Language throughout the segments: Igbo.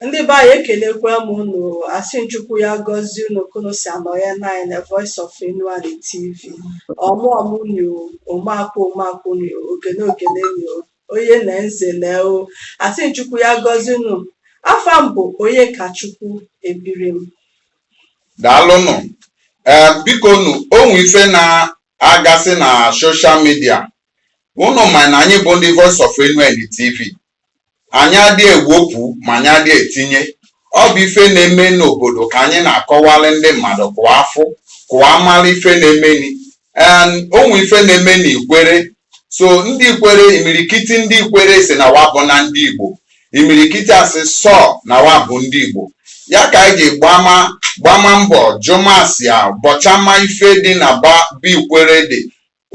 Ndị be anyị ekelekwa m unu asị m Chukwu ya gọzie unu ka unu si anọ ya nanyị na Voice of Enuani TV ọmụọmụ nyo omeakwụ omeakwụ nyo ogene ogene nyo onye na nzele o asị m Chukwu ya gọzie unu afa m bụ Onyekachukwu Ebirim daalụnụ ee biko nu o nwe ife na-agasị na social media unu ma na anyị bụ ndị Voice of Enuani TV anyị adị ewepụ ma anyị adị etinye ọ bụ ife na-eme n'obodo ka anyị na-akọwalị ndị mmadụ ka wa fụ ka wa mala ife na-emeni o nwe ife na-eme na ikwere so ndị ikwere imirikiti ndị ikwere sị na wa abụna ndị igbo imirikiti asị sọ na wa bụ ndị igbo ya ka anyị ji gbama gbama mbọ jụmasịa bọchama ife dị na be ikwere dị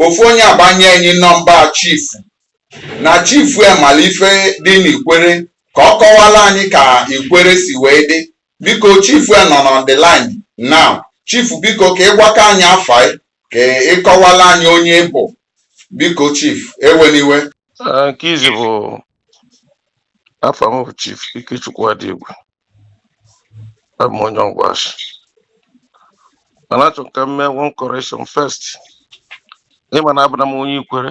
ofu onye agbanye anyị nọmba chief na chief emala ife dị n'ikwere ka ọ kọwala anyị ka ikwere si wee dị biko chief nọ on the line now chief biko ka ị gwakwa anyị afa ka ị kọwala anyị onye ị bụ biko chief ewena iwe nke izi bụ afa m bụ chief Ikechukwu Adigwu abụ m onye Ọgwashi mana achọ m ka m mee one correction first ị ma na abụna m onye ikwere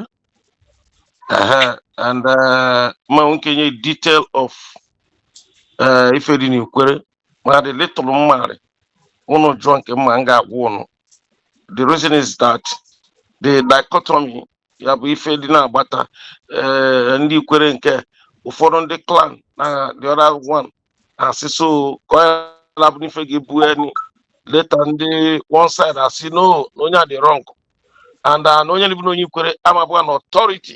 ehe and eh, m ma nwe ike inye detail of eh, ife dị n'ikwere ma the little m marị ụnụ jụọ nke m ma m ga-agwa ụnụ the reason is that the dichotomy ya bụ ife dị n'agbata ee ndị ikwere nke ụfọdụ ndị clan na the other one asị so ka ọ yala bụ n'ife ga-ebu enyi later ndị one side asị no na onye a dị wrong and uh, na onye na-abụna onye ikwere ama abụ an authority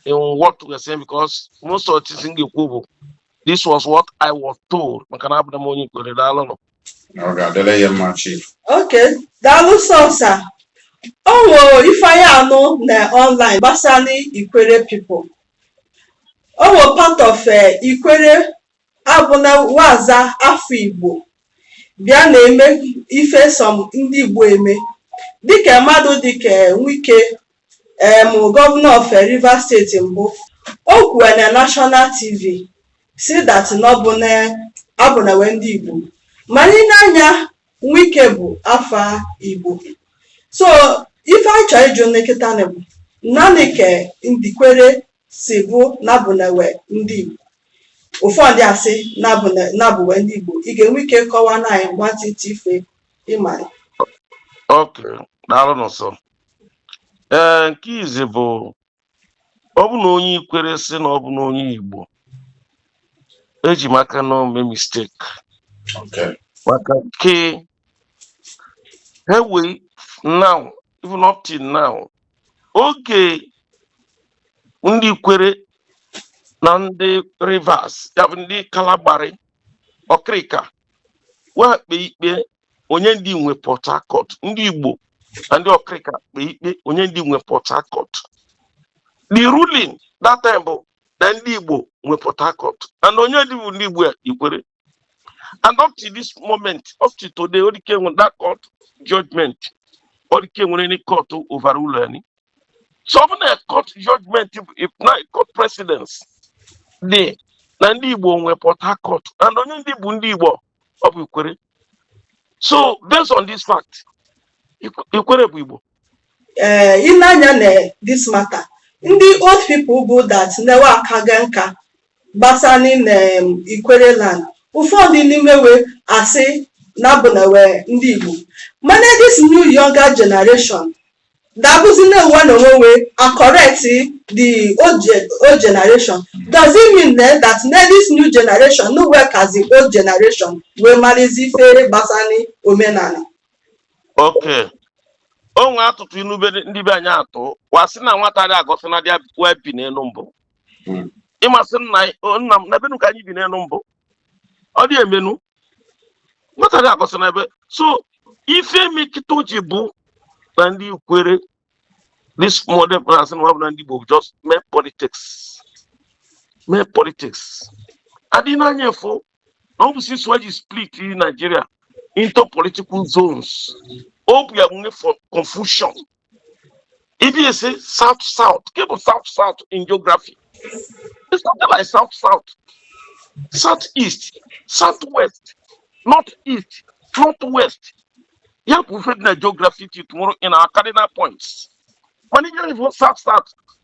in what we are saying because most of things m ga-ekwu bụ this was what I was told maka na abụna m onye ikwere daalụnụ ọ ga-adịrị ya mma chief okay daalụ sọ sir o nwe ife anyị anụ na online gbasara ikwere people o nwe part of eh, ikwere a bụ na wa aza afa igbo bịa na-eme ife some ndị Igbo eme dịka mmadụ dịka eh, Wike em eh, governor of eh, Rivers State mbụ o kwuwe na National TV sị that na abụna we ndị Igbo ma anyị nee anya Wike bụ afa Igbo so ife anyị chọrọ ịjụ na kịta bụ nanị ka ndị ikwere si bụ na abụna we ndị Igbo ụfọdụ asị na abụ we ndị Igbo ị ga-enwe ike kọwa na anyị nwantịntị ife ị mara okay daalụ nsọ ee nke izi bụ ọ bụ na onye ikwere sị na ọ bụna onye Igbo eji maka na o me mistake maka ke he wee now even up till now oge ndị ikwere na ndị rivers ya bụ ndị kalabari ọkịrịka wa kpee ikpe onye ndị nwe port harcourt ndị igbo na ndị ọkịrịka kpee ikpe onye ndị nwe port harcourt the ruling that time bụ na ndị igbo nwe port harcourt and onye ndị bụ ndị igbo ya ikwere and up to this moment up to today ọ dịka enwere that court judgment ọ dịka enwere any court overrule anyị so ọ bụ na court judgment bụ- if na court precedence dị na ndị igbo nwe port harcourt and onye ndị bụ ndị igbo ọ bụ ikwere so based on this fact Ikw- ikwere bụ igbo ee i nee anya na this matter ndị old people bụ that newe aka ga nka gbasani na em, ikwere land ụfọdụ n'ime we asị na abụna we ndị igbo mana this new younger generation da abụzi nwa na onwe we a-correct the old, ge- old generation does it mean then that na this new generation na we kasị the old generation wee marazi ife gbasani omenanị okay o nwee atụtụ inu be ndị be anyị atụ wa sị na nwata dị egosi nnadi a wee bi n'enu mbụ Mm. ị ma sị nna anyị- o, nna m n'ebe nu ka anyị bi n'enu mbụ ọ dị eme nu nwata dị egosi nna ebe so ife me kịta ji bụ na ndị ikwere this modern class na ọ bụna ndị Igbo just mee politics mee politics adị n'anya efu ọ bụ since wa ji split Nigeria into political zones ọ bụ ya nwunye for confusion ị bịa sị south south ke bụ south south in geography there's nothing like south south south east south west north east north west ya bụ ife dị na geography till tomorrow in our cardinal points mana ihe bụ south south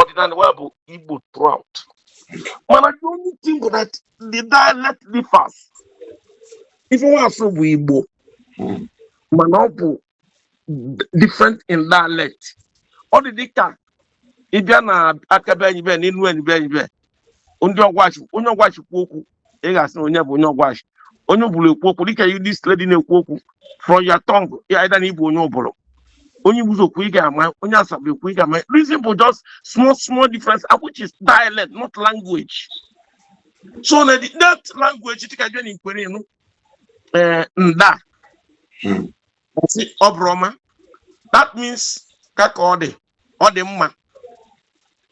ọdịnala wa bụ igbo throughout mana the only thing bụ that the dialect differs ife nwa asụ bụ igbo mana ọ bụ different in dialect ọ dị dịka ị bịa na aka be anyị be na enuanị be anyị be ndị ọgwashi onye ọgwashi kwuo okwu ị ga-asị na onye bụ onye ọgwashi onye ubulu ekwu okwu dịka you this lady na-ekwu okwu from your tongue ya ịda na ị bụ onye ubulu onye igbuzo kwuo ị ga-ama onye asaba ekwu ị ga-ama reason bụ just small small difference ah, which is dialect not language so na the that language dịka jụọ na ikwere ị nụ ee eh, nda hmm. ọ bụrụ ọma that means ka ka ọ dị ọ dị mma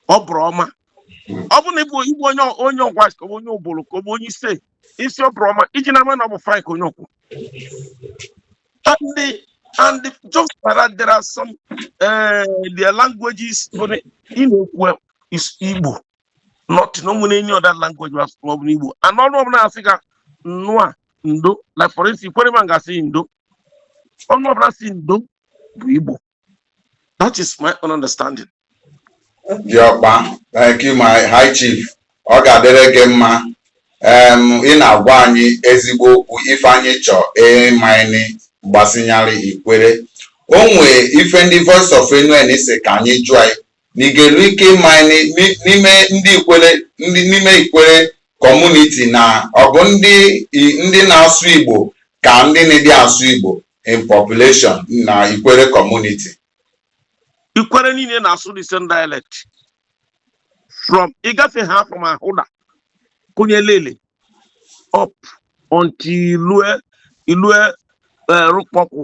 ọ bụrụ ọma ọ bụ na ị bụ ị bụ onye onye ọgwashi ka ọ bụ onye ubulu ka ọ bụ onye ise ị sị ọ bụrụ ọma iji na ama na ọ bụ fine ka onye a kwu and the and the just that there are some uh, their languages bụ na ị na-ekwu is igbo not na o nwere any other language ma ọ bụ n'igbo and ọnụ ọbụla asị ka nnụa ndo like for instance ikwere man ga-asị ndo ọnụ ọbụla sị ndo bụ igbo that is my own understanding diọkpa thank you my high chief ọ ga-adịrị gị mma em ị na-agwa anyị ezigbo okwu ife anyị chọ ịmanị gbasịnyarị ikwere o nwee ife ndị voice of Enuani sị ka anyị jụa ị na ị ga-elu ike ịma n'ime ndị ikwere ndị n'ime ikwere kọmuniti na ọ bụ ndị ndị na-asụ Igbo ka ndị na-adị asụ Igbo in population na ikwere kọmuniti ikwere niile na-asụ the same dialect from ị gafe ha from ahoada kụnye elele up until i lue i lue eh, rukpokwu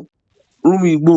rumuigbo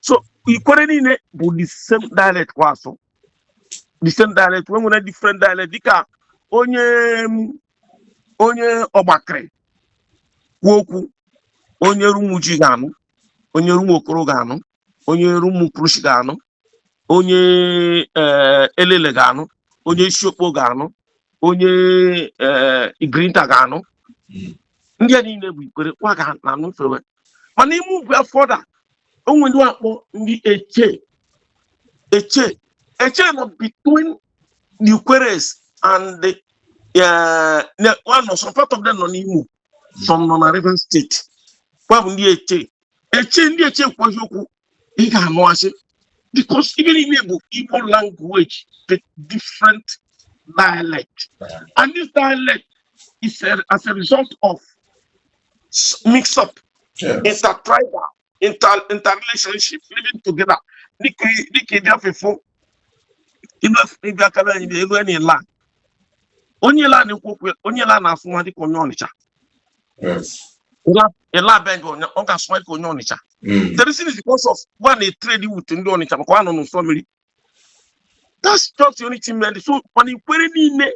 so ikwere niile bụ the same dialect ka wa asụ the same dialect wa nwere different dialect dịka onye mm, onye ọgbakịrị kwuo okwu onye rumuji ga-anụ onye rumuokoro ga-anụ onye rumukurushi ga-anụ onye eh, elele ga-anụ onye isiokpo ga-anụ onye eh, igrita ga-anụ ndị a niile bụ ikwere wa ga na-anụ ife wa mana ị move further o nwere ndị a kpọ ndị eche eche eche nọ between the Ikweres and the uh, the- wa nọ, some part of them nọ n'Imo some nọ na Rivers steeti kwa bụ ndị eche eche ndị eche ekwue okwu ị ga-anụ asị because even ime Igbo Igbo language the different dialect and this dialect is a, as a result of mix up yes. intertribal inter interrelationship living together dịka dịka ị bịa fefo ị bịa kara anyị enuani ila onye ila na-ekwu okwu onye ila na-asụ nwa dịka onye ọnịcha Illah be anyị ọ ga-asụ ka onye Ọnịcha the reason is because of wa na-trade with ndị Ọnịcha maka wa nọ n'ụsọ mmiri that's just the only thing mere so mana Ikwerre niile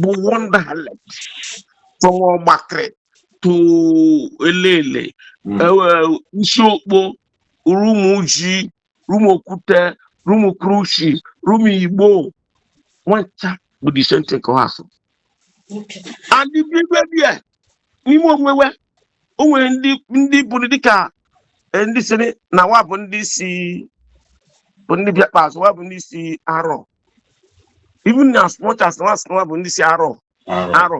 bụ one dialect from Ọgbakịrị to Elele Isiokpo Rumuji Rumuokwute, Rumukrushi, Rumuigbo, wa ncha bụ the same thing ka wa sụ. And the people there, n'ime onwe wa, o nwere ndị ndị bụrụ dịka eh, ndị sịrị na wa bụ ndị si bụ ndị bịa ikpeazụ, wa bụ ndị si Arọ. Even as much as wa sị na wa bụ ndị si Arọ, Arọ,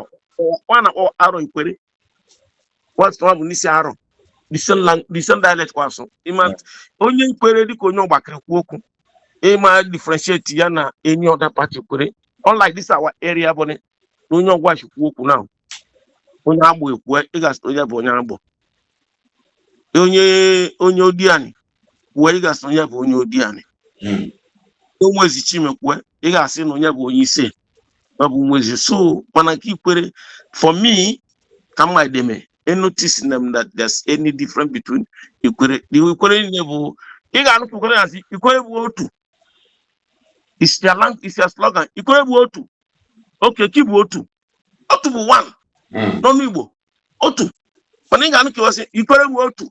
wa na-akpọ Arọ Ikwerre. wa sị wa bụ ndị si Arọ the same lang- the same dialect ka wa sụ ị ma Yeah. onye Ikwerre dịka onye Ọgbakịrị kwu okwu ị ma differentiate ya na any other part Ikwerre unlike this our area bụ na onye Ọgwashi kwu okwu now onye Agbor ekwu ị ga-asị onye bụ onye Agbor onye onye Odiani kwuo ị ga-asị na onye bụ onye Odiani Mm. onye Ezechime kwue ị ga-asị na onye bụ onye ise ọ bụ onye Ezi so mana nke Ikwerre for me ka mma deme notice them that there's any difference between Ikwerre the Ikwerre niile bụ ị ga-anụpụ Ikwerre na Ikwerre bụ otu is their lang is their slogan Ikwerre bụ otu okay kị bụ otu otu bụ one Mm. n'ọnụ Igbo otu mana ị ga-anụ ka Ikwerre bụ otu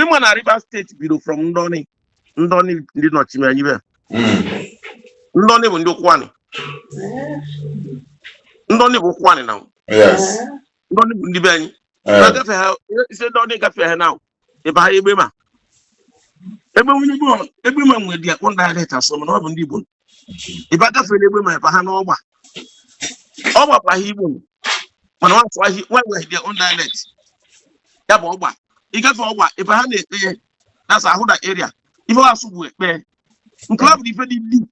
ị ma na Rivers State bido from Ndọni Ndọni ndị nọchime anyị be Ndọni bụ ndị Ụkwụanị Ndọni bụ Ụkwụanị now Yes. Ndọni bụ ndị be anyị Eh, na-agafe ha ị si Ndọni gafe ha now ị bịa Egbema ebe nwa bụ Egbema nwere their own dialect asụ mana ọ bụ ndị Igbo ị be agafere Egbema ị bịa n'Ọgba Ọgba bụkwa Igbo mana wa sụ ah wa nwe their own dialect ya bụ Ọgba ị gafe Ọgba ị bịa na Ekpeye that's Ahoada area ife wa sụ bụ Ekpeye nke ahụ bụ ife dị deep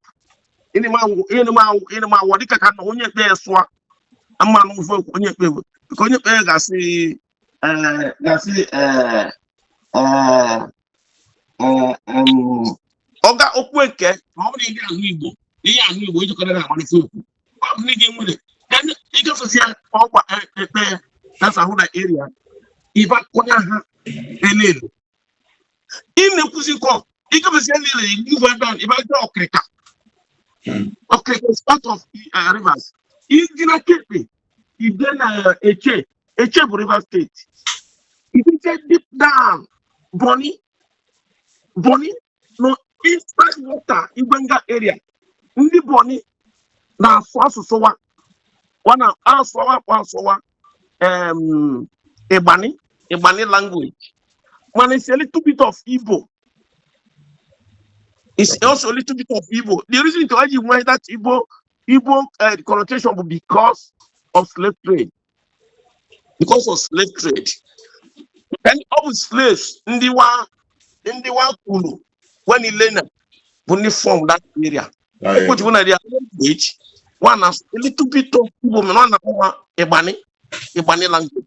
ị ma anụ ị ma anụ ị ma anụ dịka ka na onye Ekpeye sụa a ma anụ ife o kwu onye Ekpeye because onye Ekpeye ga-asị eh, ga-asị eh, eh, eh, em, ọga okwu eke ma ọ bụrụ ihe ahụ Igbo ihe ahụ Igbo ijikọta na amalite okwu ọ bụ n'ihi nwere ka ndị- ị gafesịa Ọgba e- Ekpeye that's Ahoada area ị ba kụnya ha Elele ị na-ekwuzi kọ ị gafesịa niile ị go down ị ba jee Okrika Okrika is part of eh, Rivers ịdị na kepe ọ dị na Etche Etche bụ rivers steeti idite deep down Bonny Bonny nọ inside water Igwenga area ndị Bonny na-asụ asụsụ wa wa na asụwa kwa asụwa em ịgbani ịgbani language mana it's a little bit of igbo It's also a little bit of Igbo. The reason ke wa ji nwee that Igbo Igbo uh, connotation bụ because of slave trade because of slave trade and ọ bụ slaves ndị wa ndị wa kwuru when ilena bụ ndị form that area ọ ya ji bụ na their language wa nwe a little bit of Igbo mana wa na-akpọ ya Igbani Igbani language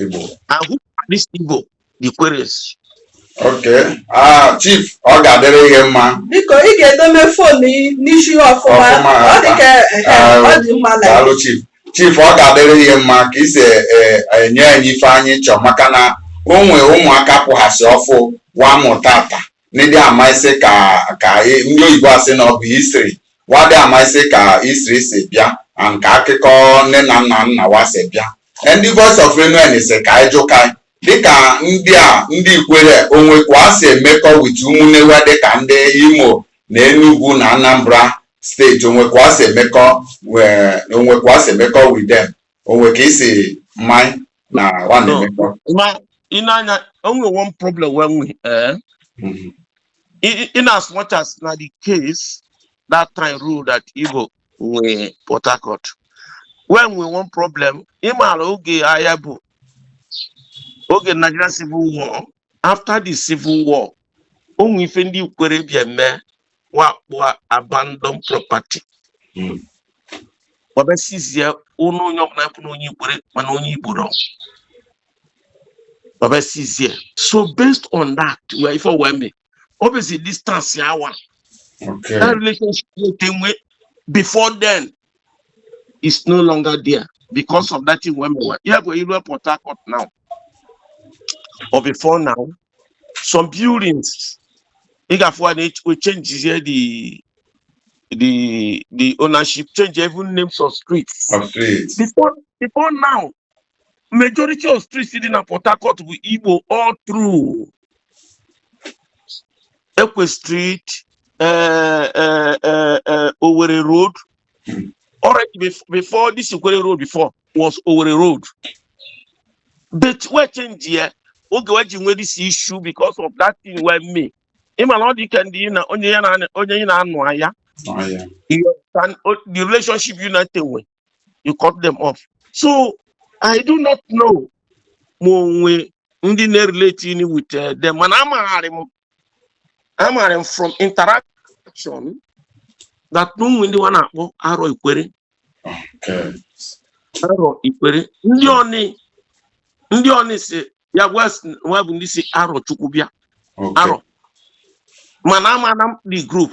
Igbo. And who are these Igbo? The Ikwerres. Okay. Ah, Chief, ọ ga-adịrị gị mma. Biko, ị ga-edome fon n'isi ọfụma. Ọ dị ka ah, ọ dị mma na. Daalụ Chief. Chief, ọ ga-adịrị gị mma ka ị si e, e, enye anyị ife anyị chọọ maka na o nwee ụmụaka pụghasị ọfụụ wa mụtata ndị ama isi ka ka ndị oyibo asị na ọ bụ history wa adị ama isi ka history si bịa and ka akụkọ nne na nna nna wa si bịa ndị Voice of Enuani si ka anyị jụkwa dịka ndị a ndị Ikwerre o nwe ka wa si emekọ with ụmụnne wa dịka ndị Imo na Enugu na Anambra steeti o nwe ka wa si emekọ o nwe ka wa si emekọ with them o nwe ka i si ma ya na wa na-emekọ ị ma na o nwe one problem we nwe eh? mm-hmm. in as much as na the case that time rule that Igbo nwe port harcourt wee nwee one problem ị mara oge aya bụ oge nigeria civil war after the civil war o nwee ife ndị Ikwerre bịa mee wa kpọ abandon property Mm. wa bịa sizie ụnọ onye ọbụla bụ na onye Ikwerre mana onye Igbo rụ wa bịa sizie so based on that wee ife wee mee ọ bụzi distance awa Okay. that relationship wey dey wey before then is no longer there because of that thing wey me wa yeah go iru port harcourt now or before now some buildings ị ga-afụ a na we change here the the the ownership change even names of streets Of streets. before before now majority of streets dị na Port Harcourt bụ Igbo all through Ekwe Street eh, eh, eh, eh, Owerri Road already bef- before this Ikwerre Road before was Owerri Road but we change ya oge we ji nwee this issue because of that thing we mee ị ma na ọ dị ka ndị ị na onye ya na onye ị na-anụ aya Ọ ya. you understand o- the relationship ụnụ te nwe you cut them off so i do not know ma o nwe ndị na-erelating with eh, them mana amara m amara m from interaction that na o nwe ndị wa na-akpọ Arọ Ikwerre Okay. Arọ Ikwerre ndị ọnị ndị ọnị si ya gwa s- wa bụ ndị si Arọchukwu bịa Okay. Arọ mana amana m the group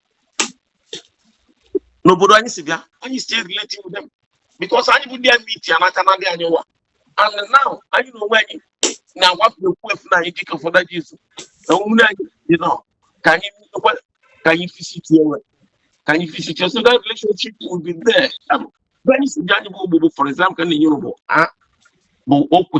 n'obodo anyị si bịa anyị still relate with them because anyị bụ ndị a meet ya n'aka na ndị anyị ụwa and now anyị na onwe anyị na-agbapụ ekwu efu na anyị dịka ụfọdụ ji izu na omume anyị dị nọ ka anyị nwekwa ka anyị visitie onwe ka anyị visitie so that relationship will be there ebe anyị si bịa anyị bụ ogbogbo for example ka na-enye bụ a bụ okwe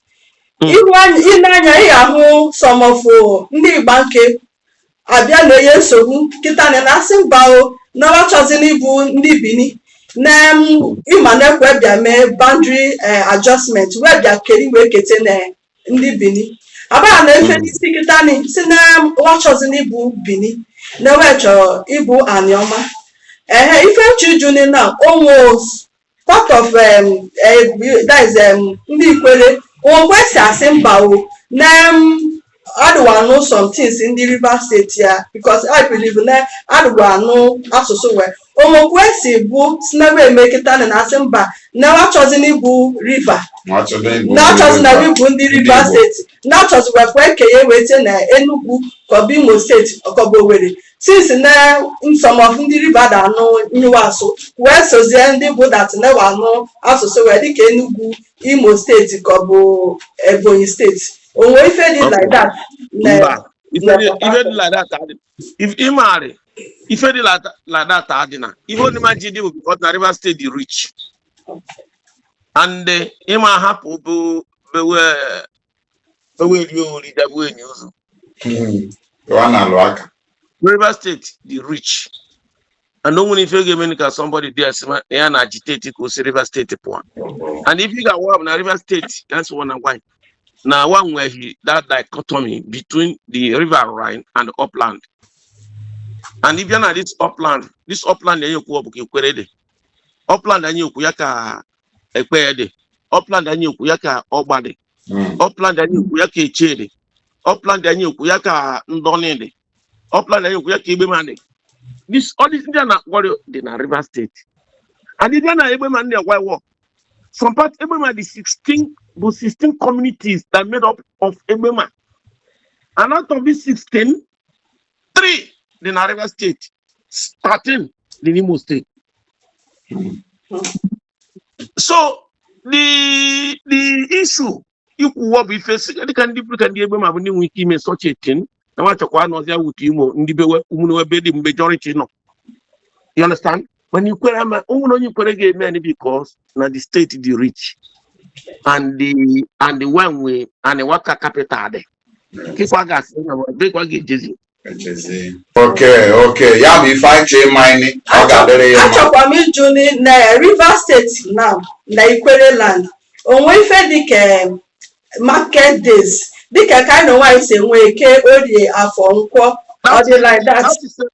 hmm. i lee anya ị ga-ahụ some of ndị Igbanke abịa na-enye nsogbu kịta nị na-asị mba o na wa achọzi n'ịbụ ndị Bini na ị ma nke we bịa mee boundary eh, adjustment wee bịa keri wee kete na ndị Bini abaa na efe hmm. na-asị kịta nị sị na wa achọzi n'ịbụ Bini na we chọrọ ịbụ Anịọma ehe ife nchuju ni na onwe part of um, eh, that is um, ndị Ikwerre onwe wọ kwesi asị mba o na um, adị wa anụ some things ndị Rivers State a because I believe na adị wa anụ asụsụ we ọ wọ kwesi bụ sị na wa emekata na asị mba na wa achọzi n'ịbụ river na achọzi n'ịbụ ndị Rivers State na achọzi wee kwe kenye we tie na Enugu ka ọ bụ Imo State ka ọ bụ Owerri since na some of ndị river da anụ ihe we asụ wee sozie ndị bụ that na wa anụ asụsụ we dịka Enugu Imo State ka ọ bụ Ebonyi State o nwe ife dị like that na- mba ife na dị- ife dị like that adị If- ị maara ife dị like that- like that adị na ihe ọ ma ji dị bụ because na Rivers State dị rich and eh, ị ma hapụ bụ bewe eweri ori dabu enyi ụzọ lụọ na alụ aka Rivers State dị rich and o nwere ife ga-eme ka somebody dị asị ma na ya na-agitate ka o si Rivers State pụọ and if ị gawa na Rivers State that's one and why na wa nweghị that dichotomy between the riverine and upland and ị bịa na this upland this upland anyị ekwu ọ bụ ka Ikwerre dị upland anyị ekwu ya ka Ekpeye dị upland anyị ekwu ya ka Ọgba dị Mm. upland anyị ekwu ya ka Etche dị upland anyị ekwu ya ka Ndọnị dị upland anyị ekwu ya ka Egbema dị This- all these ndị a na-akpọrọ dị na Rivers State and ndị a na Egbema ndị agwa wọ some part Egbema dị 16 bụ 16 communities that made up of Egbema and out of these 16 3 dị na Rivers steeti 13 dị n'Imo steeti so the the issue i kwuwa bụ ife si dịka ndị bụrụ ka ndị Egbema bụ ndị nwere ike ime such a thing na wa chọkwa anọzia with Imo ndị bewe ụmụnne ebe the majority nọ you understand mana Ikwere ama o nwere onye Ikwere ga-eme anyị because na the steeti dị rich and the and the one we and the wa ka capital dị nkịkwa ga-asị na dịkwa ga-ejezi okay okay ya bụ ife anyị chee ma ọ ga-adịrị ya mma achọkwa m ịjụ ni- na Rivers steeti na na Ikwere land o nwe ife dịka em, market days dịka ka anyị n'onwe anyị si enwe eke orie afọ nkwọ ọ dị like that That is a-